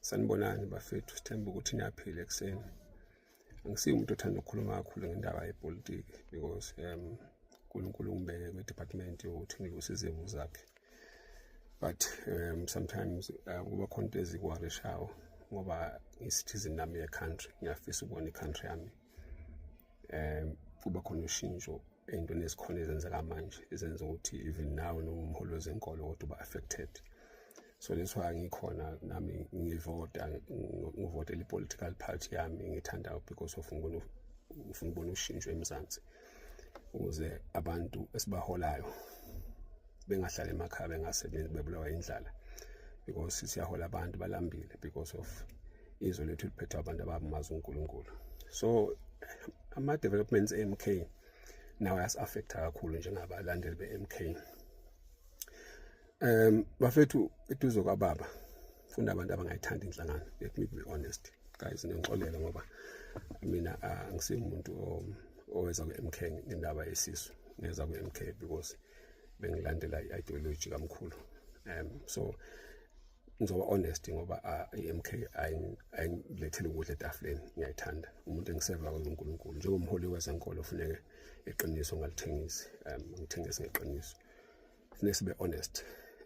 Sanibonani bafethu, sithemba ukuthi niyaphila ekuseni. Angisiyi umuntu othanda ukukhuluma kakhulu ngendaba yepolitiki because um uNkulunkulu ungibeke kwi-department yokuthi ngiluse izimo zakhe. But um sometimes uh, kuba khona into ezikuwarishayo ngoba ngi-citizen nami ye-country, ngiyafisa ukubona i-country yami um kuba khona ushintsho ey'ntweni ezikhona ezenzeka manje ezenza ukuthi even now noma umholi wezenkolo kodwa uba affected so that's why ngikhona nami ngivota ngivotela i-political party yami ngithandayo because of ngibona ufuna ukubona ushintsho emzansi ukuze abantu esibaholayo bengahlali emakhaya bengasebenzi bebulawa indlala because siyahola abantu balambile because of izwe lethu liphethwa abantu abamazi uNkulunkulu so ama developments eMK nawo yas-affecta kakhulu njengabalandeli be-MK um bafethu eduze kwababa funda abantu abangayithandi inhlangano let me be honest guys nengixolele ngoba mina ah, angisimuntu oweza kwi-MK ngendaba yesisu ngeza kwi-MK because bengilandela i-ideology kamkhulu um so ngizoba honest ngoba i-MK ayingilethele ukudla etafuleni ngiyayithanda umuntu engiseva kwenza uNkulunkulu njengomholi wezenkolo funeke iqiniso ngalithengisi um ngithengise ngeqiniso funeke sibe honest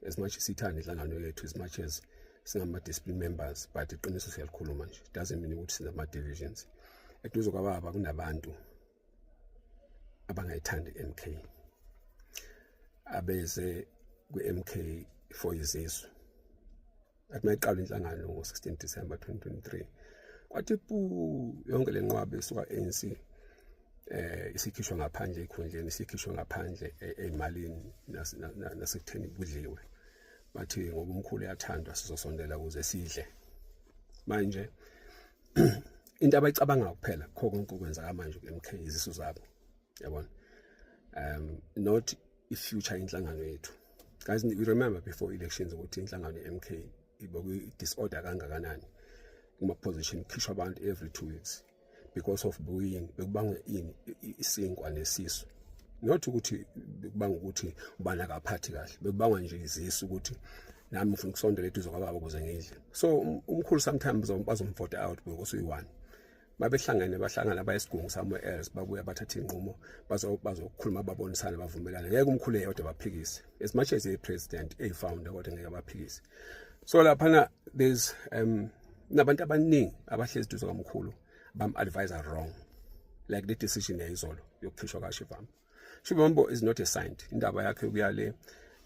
as much as sithanda inhlangano yethu as much as singama-discipline members but iqiniso siyalikhuluma nje doesn't mean ukuthi sinama-divisions eduze kwababa kunabantu abangayithandi MK abeze kwi-MK for izizwe athi mayiqala inhlangano ngo-16 December 2023 kwathi pu yonke le nqwaba esuka ANC eh isikhishwa ngaphandle ekhundleni isikhishwa ngaphandle e-, emalini nasekutheni kudliwe bathi ngoba umkhulu uyathandwa sizosondela ukuze sidle manje into abayicabangayo kuphela kho konke okwenzeka manje ku-MK izisu zabo yabona um not i-future inhlangano yethu guys we remember before elections ukuthi inhlangano ye-MK ibokwi-disorder kangakanani kuma-position khishwa abantu every two weeks because of buyini bekubangwe ini isinkwa nesisu not ukuthi bekubanga ukuthi ubani akaphathi kahle bekubangwa nje izisu ukuthi nami ngifuna ukusondela eduze kwababa ukuze ngidle so um, umkhulu sometimes bazomvote out because uyi-one babehlangene bahlangana bayesigungu somewhere else babuya bathatha iy'nqumo bazokhuluma babonisane bavumelane ngeke umkhulu eyodwa baphikise as much as eyi-president eyi-founder kodwa ngeke baphikise so laphana there's um nabantu abaningi abahlezi duze kamkhulu bam-advise wrong like le decision yayizolo yokukhishwa kashivami Shumambo is not a saint indaba yakhe kuyale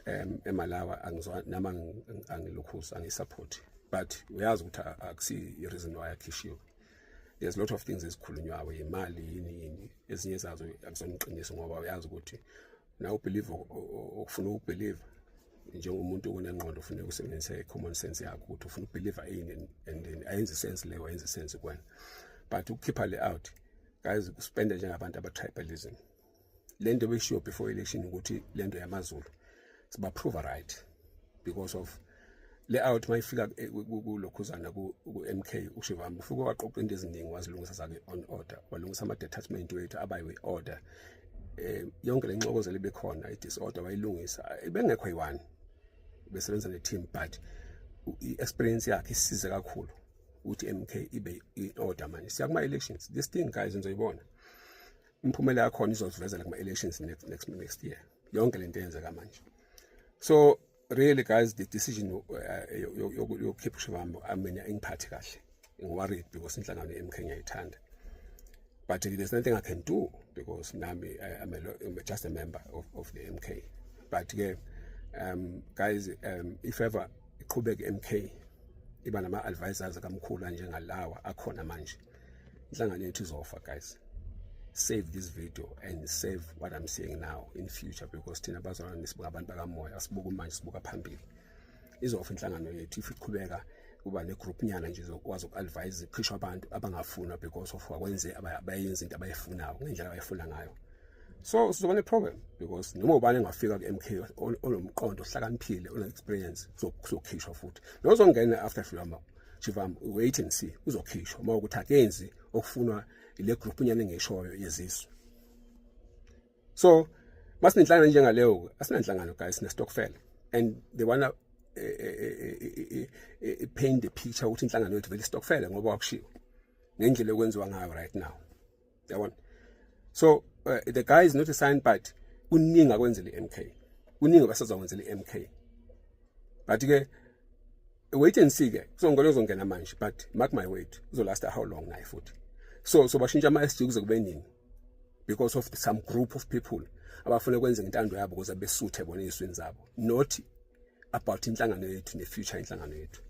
um eMalawa angizwa nama angilokhuza angisupport but uyazi ukuthi akusi i reason why akhishiwe there's a lot of things ezikhulunywayo imali yini yini ezinye zazo akusona iqiniso ngoba uyazi ukuthi na ubelieve okufuna ukubelieve njengomuntu onengqondo ufuna ukusebenzisa i-common sense yakho ukuthi ufuna ukubelieve ini and then ayenzi sense leyo ayenzi sense kwena but ukukhipha le out guys spende njengabantu abatribalism le nto beshiwo before election ukuthi le nto yamazulu sibaprova right because of le out uma ifika eh, kulokhuzana ku-m k ushivami ufike waqoqa into eziningi wazilungisa zake on order walungisa ama-detachment wethu abayiwe order um yonke le nxokozelo ibekhona i-disorder wayilungisa ibengekho yi-one besebenza ne-team but i-experience yakhe isize kakhulu ukuthi MK ibe in order manje siya kuma elections this thing guys nizoyibona imphumela yakhona izosivezela kuma elections next next next year yonke lento eyenzeka manje so really guys the decision yokukhipha uh, ushivambo i mean ingiphathi kahle ngiworried because inhlangano ye-MK ngiyayithanda but there's nothing i can do because nami i'm, a, I'm just a member of, of the MK but ke um guys um if ever iqhubeke MK iba nama advisors akamkhulu njengalawa akhona manje inhlangano yethu izofa guys save this video and save what i'm saying now in future because thina bazalwana nisibuka abantu bakamoya asibuka manje sibuka phambili izofa inhlangano yethu if iqhubeka kuba negroup nyana nje zokwazi uku-advise iqhishwa abantu abangafunwa because of wakwenze abayenza into abayifunayo ngendlela abayifuna ngayo so sizoba ne-problem because noma ubani engafika ku-mk onomqondo ohlakaniphile one-experience uzokhishwa futhi nozongena after shivama shivama wait and see uzokhishwa uma ukuthi akenzi okufunwa ile group nyana engishoyo yezizwe so masinenhlangano njengaleyo asinanhlangano guys sinestokfela and they wanna eh, eh, eh, paint the picture ukuthi inhlangano yethu vele istokfela ngoba wakushiwo ngendlela yokwenziwa ngayo right now yabona so uh, the guy is not a sign but kuningi akwenzela i-mk kuningi abasazakwenzela i-mk but ke wait and see ke kuzongena uzongena manje but mark my word uzolasta how long naye futhi so so bashintsha ama-sg kuze kube nini because of some group of people abafuna kwenza intando yabo ukuze besuthe bona eziswini zabo not about inhlangano yethu ne future inhlangano yethu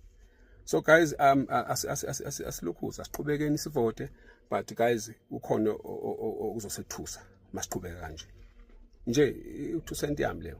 so guys um asilokhuza asiqhubekeni sivote but guys ukhona uzosethusa masiqhubeka kanje nje u2 cent yami leyo